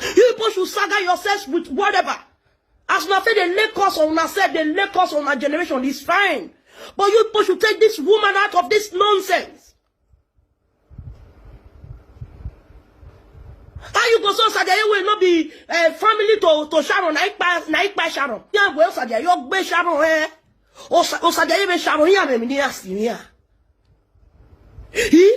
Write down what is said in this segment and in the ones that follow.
You people should saga yourselves with whatever. As una say they lay curse on una self, they lay curse on our generation, it's fine. But you people should take this woman out of this nonsense. How you go so Sadiaye will not be uh, family to, to Sharon, na ipa, na ipa Sharon. Yeah, well, Sadiaye, you gbe Sharon, eh? O Sa- o Sadiaye be Sharon, yeah, me ni asi, yeah. He,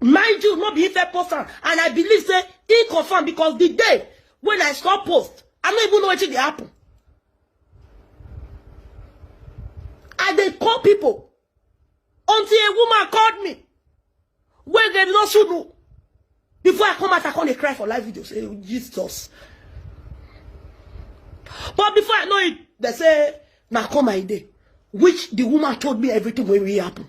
mind you no be ife post am and i believe say e confirm because the day when i stop post i no even know wetin dey happen i dey call people until a woman called me wey dem no should know before i come out i come dey cry for live video say jesus but before i know it they say na come i dey which the woman told me everything wey really happen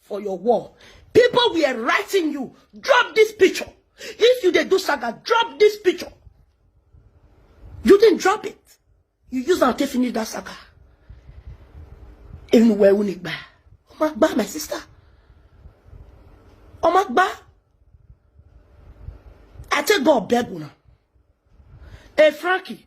for your wall people were writing you drop this picture if you dey do saga drop this picture you didn't drop it you use am take finish that saga enu wẹ uni gba ọmọ gba my sister ọmọ gba i take god beg una hey frankie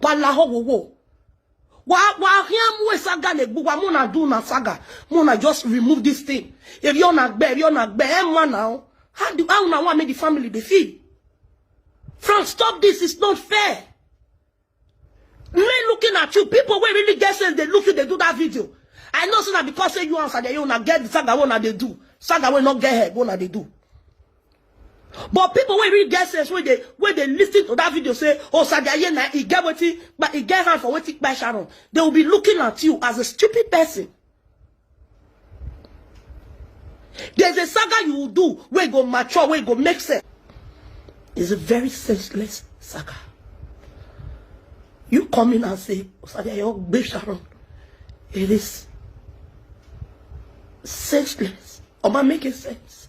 kwala howowo wa wa hia mu saga na egbu wa mu na do na saga mu na just remove this thing if you na gbe if you na gbe e ma na o how do how na wan make the family dey feel Frank stop this it's not fair me looking at you people wey really get sense dey look you dey do that video I know say na because say you answer dey you na get the saga wey una dey do saga wey no get head wey una dey do But people wey really get sense wey dey wey dey listen to that video say Osabi Ayena e get wetin but e get hand for wetin kpai Sharon. They will be looking at you as a stupid person. There's a saga you will do where go mature, where go make sense. It's a very senseless saga. You come in and say, Osadia, your babe Sharon. It is senseless. Or am I making sense?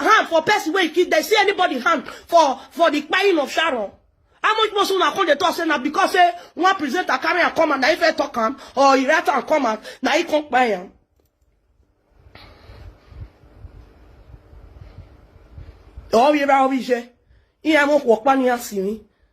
hand for person wey kill dem see anybody hand for for the kpain of sharon how much more so una come dey talk say na because say one presenter carry am come out na him first talk am or he write am come out na him come kpai am. ọ̀wéra ọ̀wéṣẹ́ ìyẹn mo pọ̀ pa ni a sì ní.